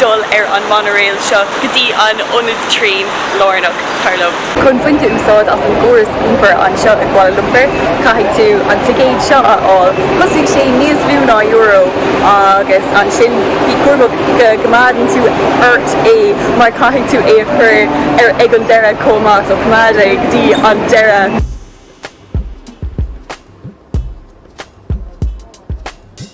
dul ar an monorail seo go dtí an ionad traenach lárnach thar lom. Chun baint úsáid as an gcóras iompair anseo i gKuala Lumpur, caithfidh tú an ticéad seo a fháil. Chosnaigh sé níos lú ná euro agus ansin bí cúramach go gcoimeádann tú ort é mar caithfidh tú é a chur ar ais ag an deireadh chomh maith, so coimeád é go dtí an deireadh.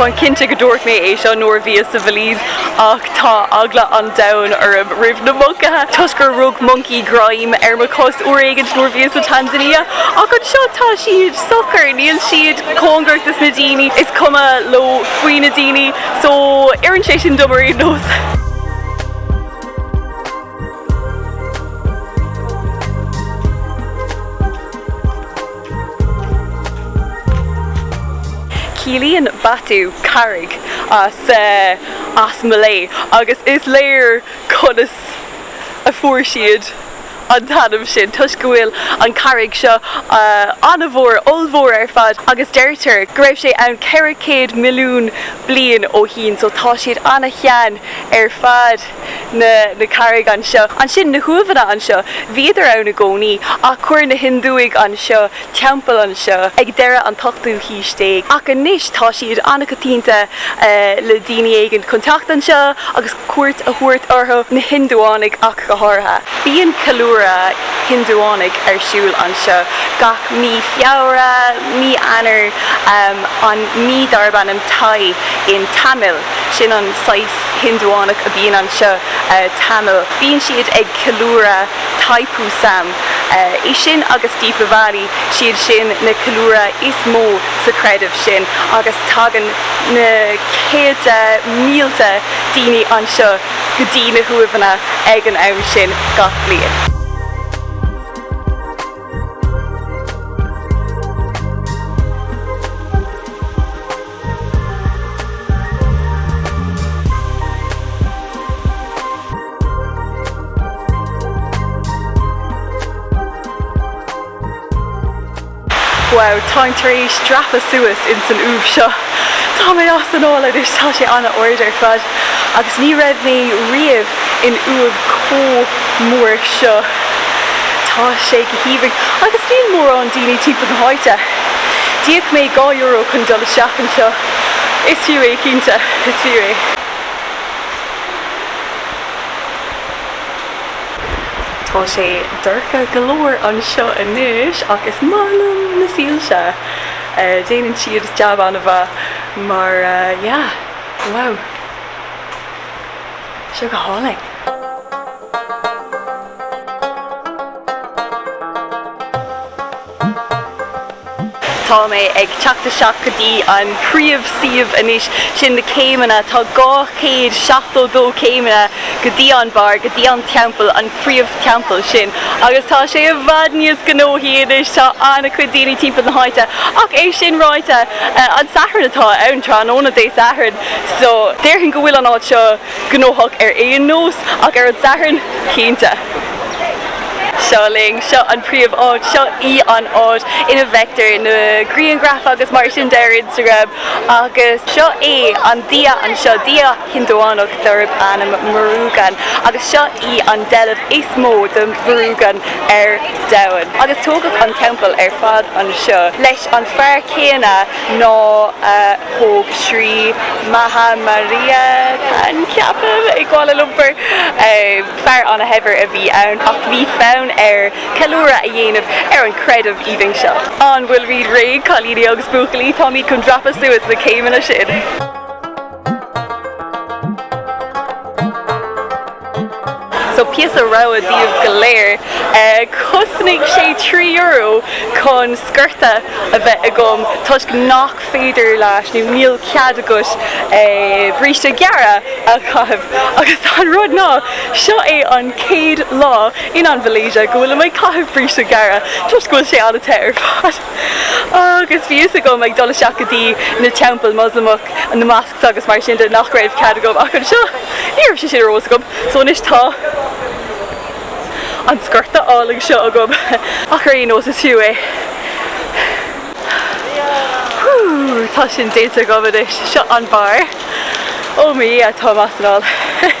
Táim cinnte go ndúirt mé é seo nuair a bhíos sa Bhelize ach tá eagla an domhain orm roimh na moncaithe toisc gur rug moncaí greim ar mo chos uair éigin nuair a bhíos sa Tanzania ach anseo tá siad socair, níl siad cóngarach dos na daoine, is cuma leo faoi na daoine so oireann sé sin dom ar aon nós. Ciallaíonn Batu carraig as Malay agus is léir conas a fuair siad an t-ainm sin toisc go bhfuil an charraig seo an-mhór, ollmhór ar fad agus deirtear go raibh sé ann 400 milliún bliain ó shin so tá siad an-shean ar fad. na carraig anseo, ansin na huaimheanna anseo, bhíodar ann i gcónaí ach chuir na Hiondúigh anseo teampall anseo ag deireadh an ochtú haois déag ach anois tá siad an-choitianta le daoine éigin chun teacht anseo agus cuairt a thabhairt orthu, na Hiondúánaigh ach go háirithe. Bíonn ceiliúradh Hiondúánaigh ar siúl anseo gach mí Feabhra, mí Eanáir, an mí darb ainm Thai in Tamil, sin an saghas, Indiánach a bhíonn anseo, Tamil. Bíonn siad ag ceiliúradh Thaipusam, é sin agus Deepavali, 'siad sin na ceiliúradh is mó sa chreideamh sin agus tagann na céadta mílte daoine anseo go dtí na huaimheanna ag an am sin gach bliain. Wow, táim tar éis dreapadh suas ins an uaimh seo. Tá mé as anáil anois, tá sé an-ard ar fad agus ní raibh mé riamh in uaimh chomh mór seo. Tá sé go haoibhinn agus níl mórán daoine timpeall na háite. D'íoc mé dhá euro chun dul isteach anseo. Is fiú é cinnte. Is fiú é. Tá sé dorcha go leor anseo anois ach is maith liom na soilse. Déanann siad jab an-mhaith mar wow. Seo go hálainn. Tá mé ag teacht isteach go dtí an príomh suíomh anois, sin na céimeanna, tá 272 céimeanna go dtí an barr, go dtí an teampall, an príomh teampall sin agus tá sé i bhfad níos gnóthaí anois, tá an-chuid daoine timpeall na háite ach é sin ráite an Satharn atá ann, tráthnóna Dé Sathairn so déarfainn go bhfuil an áit seo. gnóthach ar aon nós, ach ar an Satharn, cinnte. Seo linn. Seo an príomh áit. Seo í an áit ina bhfeictear na grianghraif agus mar sin de ar Instagram agus seo é an Dia anseo, Dia Hiondúch darb ainm Murugan agus seo í an deilbh is mó de Murugan ar domhan. Agus tógadh an teampall ar fad anseo leis an fear céanna. ná a thóg Sri Maha Mariamman, ceapaim, i gKuala Lumpur. Fear an-shaibhir a bhí ann ach bhí fonn air ceiliúradh a dhéanamh ar an chreideamh aoibhinn seo. An bhfuil sibh réidh, cailíní agus buachaillí? Táimid chun dreapadh suas na céimeanna sin! So píosa rabhadh daoibh go léir. Cosnaíonn sé trí euro chun sciorta a bheith agam toisc nach féidir leat nó níl cead agat bríste gearra a chaitheamh. Agus is é an rud ná, seo é an chéad lá in an Mhalaeisia go bhfuilim ag caitheamh bríste gearra toisc go bhfuil sé an-te ar fad. Agus bhí a fhios agam ag dul isteach go dtí na teampaill Moslamach, na mosques agus mar sin de nach raibh cead agam ach anseo. Ní raibh sé sin ar eolas agam. So anois tá an sciorta álainn seo agam. Ach ar aon nós is fiú é. Whew! Tá sin déanta agam anois. Seo an barr. Oh my Dhia, táim as anáil.